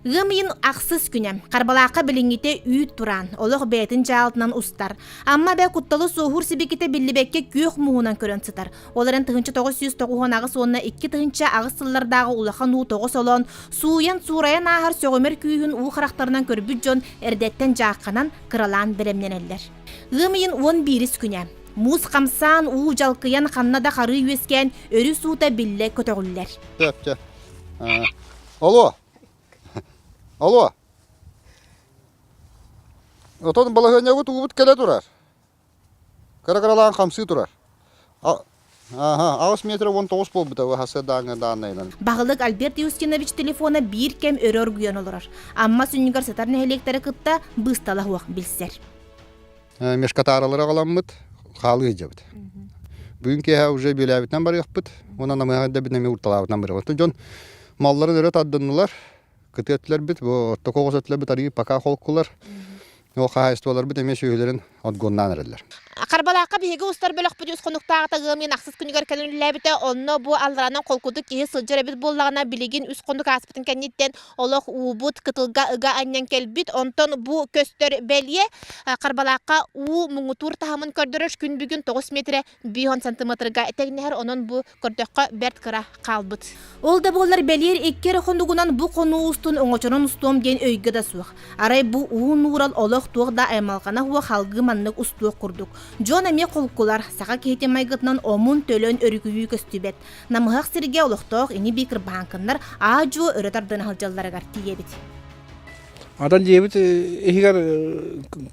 Ыам ыйын ахсыс күнэ. Харбалаахха билиҥҥитэ үүт тураан, олох бэйэтин дьаалтынан устар. Амма бэ кутталы суоһуур сибикитэ биллибэккэ күөх мууһунан көрөн сытар. Ол эрэн тыһынча тоҕус сүүс тоҕуһун аҕыс уонна икки тыһынча аҕыс сыллардааҕы улахан уу тоҕо солоон, сууйан суурайан ааһар сөҕүмэр күүһүн уу харахтарынан көрбүт дьон эрдэттэн дьаахханан, кыралаан бэлэмнэнэллэр. Ыам ыйын уон биирис күнэ. Муус хамсаан, уу дьалкыйан ханна да харыы үөскээн өрүс уута биллэ көтөҕүллэр. Сөп, сөп. Алло. Алло. Отон балаһыанньабыт уубут кэлэ турар. Кыра-кыралаан хамсыы турар. Ааһа, аҕыс метрэ уон тоҕус буолбута ВХС дааҥы дааннайынан. Баһылык Альберт Юстинович телефона биир кэм өрө оргуйан олорор. Амма сүнньүгэр сытар нэһилиэктэрэ кытта быысталаһыах билсэр. Мешкатааралары аҕаламмыт, хаалыы сылдьабыт. Бүгүн киэһэ уже бүөлээбитинэн барыахпыт, уонна намыһах да бүнэми уурталаабытынан барыахпыт. Дьон малларын өрө тардыннулар, кытыаттыларбыт, бу тоқоғос өттүлэрбит арыйы пока холкулар. Ол хаһаайыстыбаларбыт эмиэ сүөһүлэрин отгоннаан эрэллэр. Харбалаахха биһиги устар бөлөхпүт үс хонуктааҕыта ыамньын ахсыс күнүгэр кэлэн үлэлээбитэ. Онно бу алларанан холкутук киһи сылдьар эбит буоллаҕына, билигин үс хонук ааспытын кэнниттэн олох уубут кытылга ыга анньан кэлбит. Онтон бу көстөр бэлиэ. Харбалаахха уу муҥутуур таһымын көрдөрөр күн бүгүн тоҕус миэтирэ биһон сантыметрга тегнехер онон бу көрдөххө бэрт кыра хаалбыт ол да буоллар бэлиэр иккер хонугунан бу хонуу устун оҥочорун устуом диэн өйгө да суох арай бу уу нуурал олох туох да аймалҕана уо халгыы маннык устуох курдук дьон эмиэ холкулар саха киһити майгытынан омун төлөн өрүкүйүү көстүбэт намыһах сиргэ олохтоох ини би кырбаһаnkыннар аа-дьуо өрө тардына сылдьалларыгар тиийэбит Ата дьиэбит иһигэр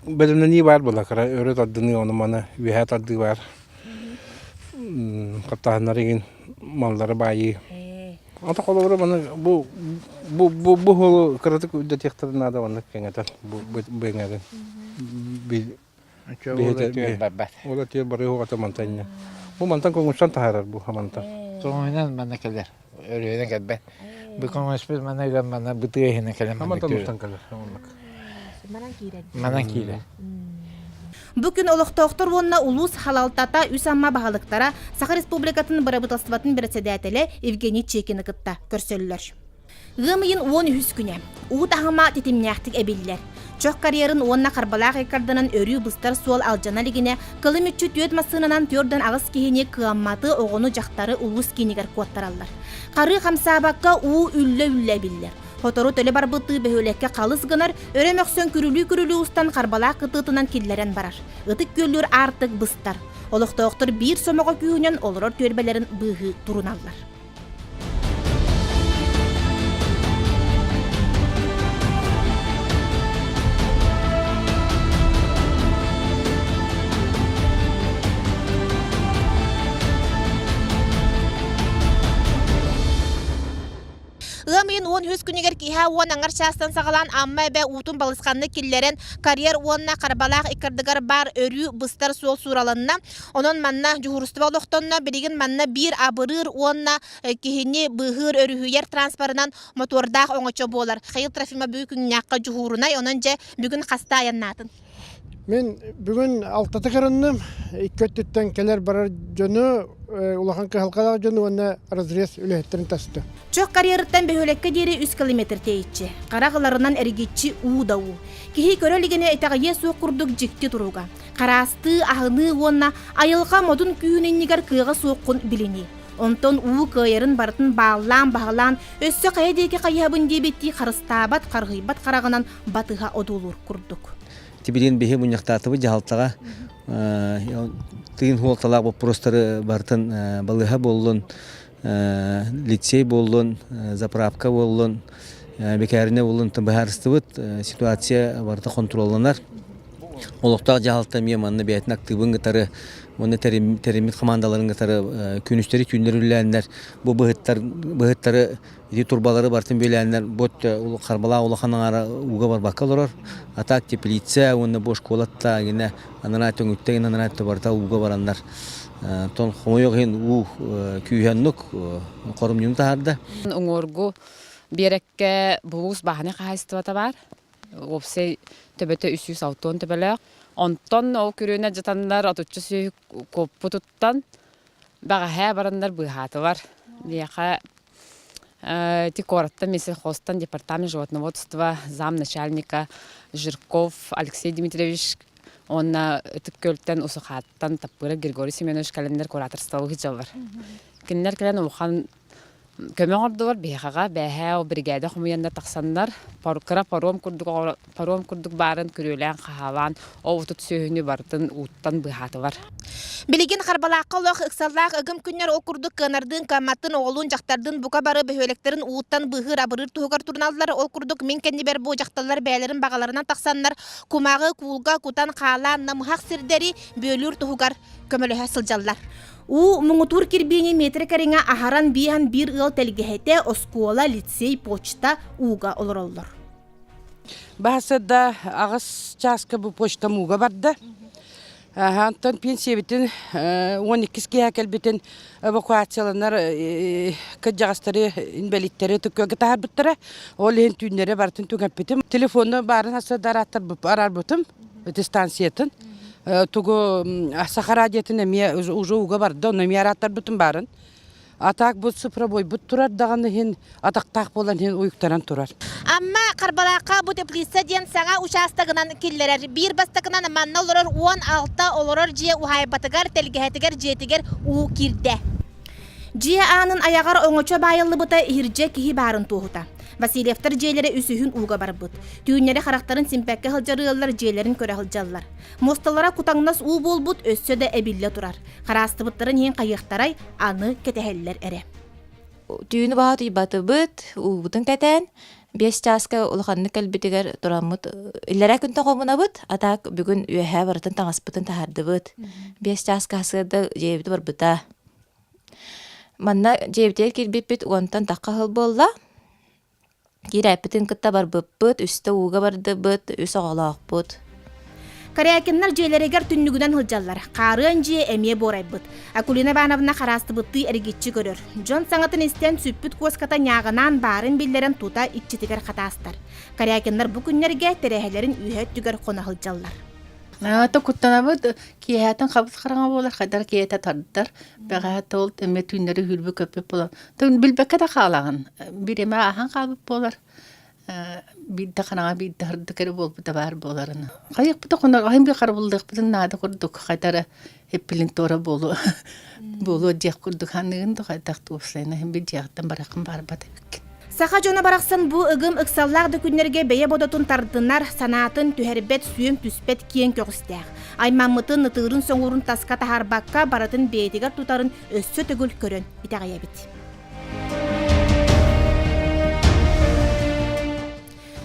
бэлэмнэнии баар буолла кыра өрө тардыныы ону-маны үөһэ тардыы баар таптаһыннар игин маллары баайыы ата холобура маны бу бу бу бу уһулу кыратык үрдэтиэхтэрин наада маннык кэҥэтэн бу бу эҥэрин Бэйэтэ түөн барбат. Ол этиэ бары уҕата мантанньа. Бу мантан көҥүстан таһаарар бу хамантан. Көҥүнэн манна кэлэр. Өрүһүнэн кэлбэт. Бу көҥүспүт манна ыган манна бытыаһынан кэлэн Хамантан мустан кэлэр. Оннук. Манан киирэр. Бу күн олохтоохтор уонна улуус халалтата үс Амма баһылыктара Саха Республикатын Бырабыыталыстыбатын бэрэссэдээтэлэ Евгений Чекины кытта көрсөллөр. Ыам ыйын уон үһүс күнэ. Уу таһыма титимнээхтик эбиллэр. Чох карьерын уонна харбалаах иккарданан өрүү быстар суол алдьана илигинэ, кылым мүччү түөрт массыынанан төрдөн аҕыс киһини кыамматы, оҕону-дьахтары улуус киинигэр куоттараллар. Харыы хамсаабакка уу үллэ-үллэ эбиллэр. Сотору төлө барбыттыы бөһүөлэккэ халыс гынар, өрө мөхсөн күрүлүү-күрүлүү устан харбалаах кытыытынан киллэрэн барар. Ытык күөллүүр аартык быстар. Олохтоохтор биир сомоҕо күүһүнэн олорор түөлбэлэрин быыһыы туруналлар. Ыам ыйын уон үһүс күнүгэр киэһэ уон аҥар чаастан саҕалаан Амма эбэ уутун балысханнык киллэрэн карьер уонна харбалаах иккардыгар баар өрүү быстар суол суураланна. Онон манна дьуһуурустуба олохтонно билигин манна биир абырыыр уонна э, киһини быыһыыр өрүһүйэр транспорынан мотуордаах оҥочо буолар. Хayыл Трофимович күннээххэ дьуһуурунай, онон дьэ бүгүн хаста айаннаатын. Мен бүгүн алтаты кырынным, икки өттүттэн келер барар дьону, э, улахан кыһалқалаах дьону уонна разрез үлэһиттерин тасты. Чөк карьерыттан бөһөлөккө диэри 100 километр тейчи. Кара кыларынан эргиччи уу да уу. Киһи көрө илигине итэҕийэ суох курдук дьикти туруга. Хараастыы, аһыныы уонна айылҕа модун күүн иннигэр кыаҕа суоххун билинии. Онтон уу кыайарын барытын бааллаан-баһылаан өссө хайа диэки хайыһабын диэбиттии харыстаабат, харыһыйбат хараҕынан батыһа одуулуур курдук. Тибилин биһи мунньахтаатыбыт дьаһалтаҕа тыын хуолталаах боппуруостары барытын балыыһа буоллун лицей буоллун, заправка буоллун, бекээринэ буоллун быһаарыстыбыт ситуация барыта хонтуруолланар. Олохтоох дьаһалта эмиэ манна бэйэтин актыыбын кытары уонна тэриммит хамаандаларын кытары күнүстэри түүннэрүүлээннэр бу быһыттар быһыттары ити турбалары барытын бүөлээннэр бот харбалаах улахан аҥаара ууга барбакка олорор а так теплица уонна бу школаттаагина анараа төҥүттэн анараа барыта ууга бараннар Тон хомойуох иһин уу күүһэннук хорумньуну таһаарда. Уҥуоргу биэрэккэ булуус бааһынай хаһаайыстыбата баар. Уопсай төбөтө үс сүүс алта уон төбөлөөх. Онтон ол күрүөнэ дьатаннар отучча сүөһү куоппутуттан бэҕэһээ бараннар быыһаатылар. Миэхэ Ити куораттан мен сельхозтан департамент животноводства замначальника Жирков Алексей Дмитриевич уонна Ытык Күөлтэн Усухааттан Таппыырап Григорий Семенович календарь кураторсталы ыһыдьаллар. Кинилэр кэлэн улахан көмө оҥордулар биһикэҕэ бээһээ ол биригээдэ хомуйанна тахсаннар кыра паром курдук Хоруом курдук баарын күрүөлээн-хаһаалаан, ол-отут сүөһүнү барытын ууттан быыһаатылар. Билигин Харбалаахха олох ыксаллаах ыгым күннэр ол курдук кыанардыын, кыамматтын, оҕолуун, дьахтардыын бука бары бөһүөлэктэрин ууттан быыһыыр-абырыыр туһугар туруналлар. Ол курдук мин кэннибэр бу дьахталлар бэйэлэрин баҕаларынан тахсаннар кумааҕы, куулга кутан хаалаан намыһах сирдэри бүөлүүр туһугар көмөлөһө сылдьаллар. Уу муҥутуур кирбиини метрэ кэриҥэ аһаран бииһэн биир ыал тэлгэһэтэ, оскуола, лицей, почта ууга олороллор. Баһасырда аҕыс чааска бу почтамууга барда. Онтон пенсиябитин уон иккис киэһэ кэлбитин эвакуацияланар кырдьаҕастары инбэлииттэри тыккыга таһаарбыттара. Ол иһин түүннэри барытын түҥэппитим. Телефонно баарын сарсыарда араарбытым аттестациятын. Тугу Саха радиотын эмиэ уже ууга барда, ону эмиэ арааттарбытым баарын. А так бу цифровойбут турар даҕаны иһин атахтаах буолан иһин уйуктаран турар. Амма Харбалаахха бу теплица диэн саҥа учаастагынан киллэрэр. Биир бастакынан манна олорор уон алта олорор дьиэ уһаайбатыгар, тэлгэһэтигэр, дьиэтигэр уу киирдэ. Дьиэ аанын аяҕар оҥочо баайыллыбыта иһирдьэ киһи баарын туоһута. Васильевтар дьиэлэрэ үсүһүн ууга барбыт. Түүннэри харахтарын симпэккэ сылдьар ыаллар дьиэлэрин көрө сылдьаллар. Мосталара кутаҥнас уу буолбут өссө да эбиллэ турар. Хараастыбыттарын иһин хайыахтарай, аны кэтэһэллэр эрэ. Түүнү баһа утуйбатыбыт, уубутун кэтээн, биэс чааска улаханнык кэлбитигэр тураммыт иллэрээ күн тоҕобунабыт, а так бүгүн үөһээ барытын таҥаспытын таһардыбыт. Биэс чааска сыарда дьиэбит барбыта. Манна дьиэбитигэр кирбиппит уонтан тахха сыл буолла. Киирээппитин кытта барбыппыт, үстэ ууга бардыбыт, үс оҕолоохпут. Корякиннар дьиэлэригэр түннүгүнэн сылдьаллар. Хаарыан дьиэ эмиэ буорайбыт. Акулина Ивановна хараастыбыттыы эргиччи көрөр. Дьон саҥатын истэн сүппүт куоската ньааҕынаан баарын биллэрэн тута иччитигэр хатаастар. Корякиннар бу күннэргэ тэрээһэлэрин үөһэ өттүгэр хоно сылдьаллар. Ата куттанабыт киэһэтин хабыс хараҥа буолар хайдар киэһэтэ тардар. Бэҕэһээ ол эмиэ түүннэри үүрбүт көппүт болон Тын билбэккэ да хаалаҕын. Бир эмэ ааһан хаалбыт буолар. Э, биирдэ хараҥа биирдэ хардык эрэ буолбута баар буоларын. Хайыахпыта хонорҕайын би харабыллыахпытын наада курдук хайтара эппилинтора буолуо буолуо диэх курдук ханыгын да хайтах туопсайна хин би диэхтен барахын барбат эбиккин Саха дьоно барахсан бу ыгым ыксаллаах да күннэргэ бэйэ бодотун тардынар, санаатын түһэрбэт сүөм түспэт киэҥ көҕүстээх. Аймаммытын, ытыырын соңуурун таска таһарбакка барытын бэйэтигэр тутарын өссө төгүл көрөн итэҕэйэбит.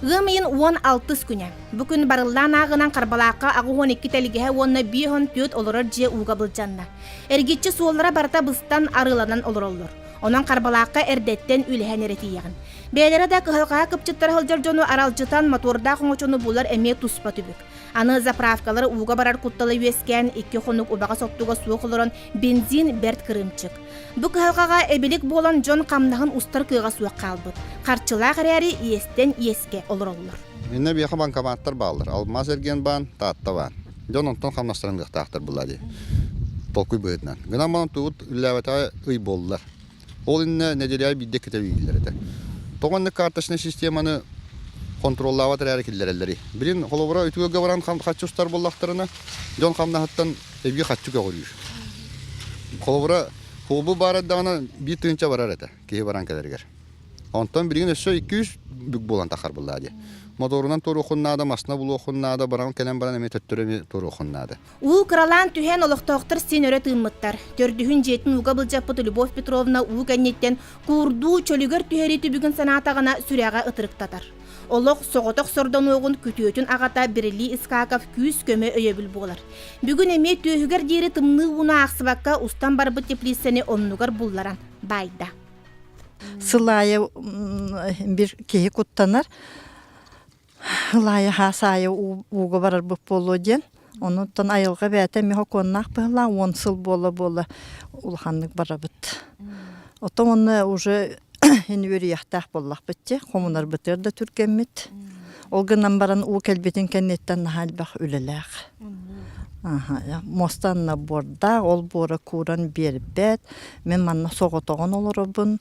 Ыам ыйын уон алтыс күнэ. Бу күн барыллаан ааҕынан Харбалаахха аҕыс уон икки тэлгэһэ уонна биэс он түөрт олорор дьиэ ууга былдьанна. Эргиччи суоллара барыта быстан арыыланан олороллор. Онон Харбалаахха эрдэттэн үлэһэн эрэ тиийэҕин. Бэйэлэрэ да кыһалҕаһа кыпчыттара сылдьар дьону аралдьытан мотуордаах оҥочону булар эмиэ туспа түбүк. Аны заправкалары ууга барар куттала үөскээн икки хонук убаҕас оттуга суох олорон бензин бэрт кырыымчык. Бу кыһалҕаҕа эбилик буолан дьон хамнаһын устар кыаҕа суох хаалбыт. Харчылаах эрээри иэстэн иэскэ олороллор. Инна биэхэ банкоматтар бааллар. Алмаас эргиэн баан, Таатта баан. Дьон онтон хамнастаран ыахтаахтар буолаа дии. Толкуй быһыытынан. Гынан баран тугут үллээбэтэҕэ ый буоллар. Ол иннинэ нэдиэлэҕэ биирдэ кэтэ үүнэллэр этэ. Тоҕо иннинэ карточнай системаны хонтуруоллаабат эрээри киллэрэллэрий? Билин, холобура, үтүөлгэ баран хаччы устар буоллахтарына, дьон хамнаһыттан эбии хаччы көҕүрүүр. Холобура, хобу баар эрдэҕинэ биир тыһыынча барар этэ киһи баран кэлэригэр. Онтон билигин өссө икки-үс бүк буолан таххар буоллаа дии. Мотуорунан туоруоххун наада, массына булуоххун наада, баран кэлэн баран эмиэ төттөрү эмиэ туоруоххун наада. Уу кыралаан түһэн олохтоохтор син өрө тыыммыттар. Төрдүһүн дьиэтин ууга былдьаппыт Любовь Петровна уу кэнниттэн куурдуу чөлүгэр түһэрии түбүгүн санаатаҕына сүрэҕэ ытырыктатар. Олох соҕотох сордонуоҕун күтүөтүн аҕата Берли Искаков күүс-көмө өйөбүл буолар. Бүгүн эмиэ түөһүгэр диэри тымныы ууну аахсыбакка устан барбыт теплицаны оннугар булларан баайда. Сыл аайы бир киһи куттанар. Ылаайы хаас аайы ууга барарбыт буолуо диэн. Онуттан айылҕа бэйэтэ эмиэ сокуоннаах быһылаах уон сыл буола-буола улаханнык барабыт. Оттон уонна уже ини үөрүйэхтээх буоллахпыт дии. Хомунарбытыгар да түргэммит. Ол гынан баран уу кэлбитин кэнниттэн наһаа элбэх үлэлээх. Муостанна буордаах, ол буора кууран биэрбэт. Мин манна соҕотоҕун олоробун.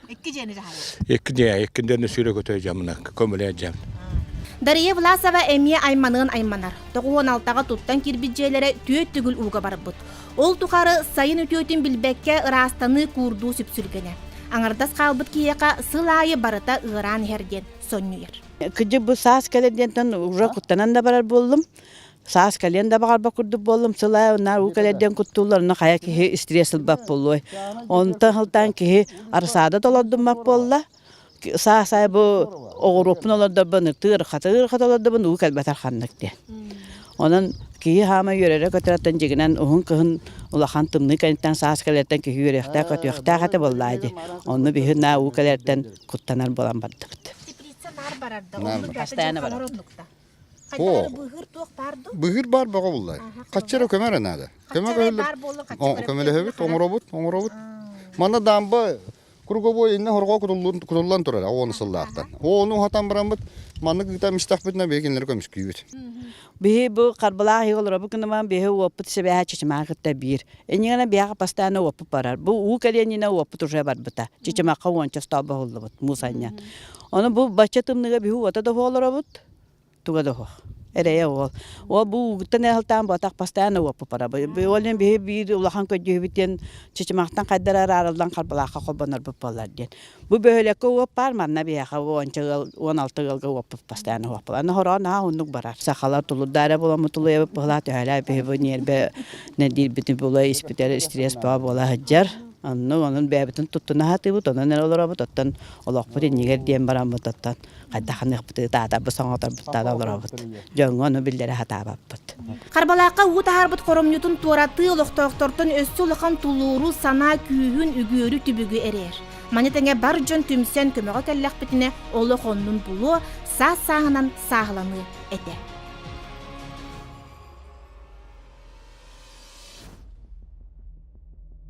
Икки дьиэни дьаһайар. Икки дьиэ, икки дьиэни сүүрэ көтөй дьамына, көмөлөй дьам. Дария Власова эмиэ айманыан айманар. Тоҕуон алтаҕа туттан кирбит дьиэлэрэ түөрт түгүл ууга барбыт. Ол тухары сайын үтүөтүн билбэккэ ыраастаныы куурдуу сүпсүлгэнэ. Аҥардас хаалбыт киһиэхэ сыл аайы барыта ыараан иһэр диэн сонньуйар. Кыдьык бу саас кэлэр диэнтэн уже куттанан да барар буоллум. Саас кэлиэн да баҕарбат курдук буоллум, сыла ынаа уу кэлэрдэн куттууллар, онно хайа киһи стресс ылбат буолуой. Онтон сылтаан киһи арсаада толордуммат буолла. Саас ай бу оҕуруоппун олордорбун ытыы ырхата ырхата олордорбун уу кэлбэтэр ханнык диэн. Онон киһи хаама үөрэрэ көтөрөттөн дьигинэн уһун кыһын улахан тымныы кэриттэн саас кэлэртэн киһи үөрүөхтээх көтүөхтээх этэ буоллаа дии. Онно биһи ынаа уу кэлэртэн куттанар буолан бардыбыт. Теплица наар барарда. Наар барар. Хастаана барар. Быһыыр баар бөҕө буллай. Хаччара көмөрө наада. Көмө көмөлөһөбүт, оҥоробут, оҥоробут. Манна дамба круговой инна хорҕо кутуллан турар оҕону сыллаахтан. Ону хатан бараммыт маннык ыытам истахпытына бэйгинлери көмүскүүбүт. Биһи бу харбалаах иһи олоробут кыныман биһи уоппут сибэһэ чычымаха кытта биир. Эниңана биһаха постааны уоппут барар. Бу уу кэлиэнинэ уоппут уже барбыта. Чычымахха уонча столба буллубут мусанньан. Ону бу бачча тымныыга биһи уота да оһо олоробут, туга да оһо. Эрэйэ уол. Уол бу уугуттан ыаһылтаан буотах бастаан уоппупара. Ол иһин биһи биир улахан көдьүүһүбүт диэн чычымахтан хайдара араарыллан харбалаахха холбонорбут буолар диэн. Бу бөһүөлэккэ уоп баар манна биһиэхэ уонча ыал, уон алта ыалга уоппут бастаан уоппула. Аны хороон наһаа оннук барар. Сахалар тулурдаара буоламмыт тулуйабыт быһылаа төһөлөөх биһи бу ньиэрбэ нэдиирбитин була испитэр стресс бөҕө буола сылдьар. Онно онон бэйэбитин туттуна сатыыбыт, онон эрэ олоробут, оттон олохпут иннигэр диэн бараммыт оттон хайдах ханыахпыт ытаатарбыт соҥоторбут тада олоробут дьоҥҥо ону биллэрэ сатаабаппыт харбалаахха уу таһаарбыт хоромньутун туоратыы олохтоохтортон өссө улахан тулууру санаа күүһүн үгүөрү түбүгү эрэйэр маны тэҥэ бар дьон түмсэн көмөҕө кэллэхпитинэ олох оннун булуо саас сааһынан сааһыланыы этэ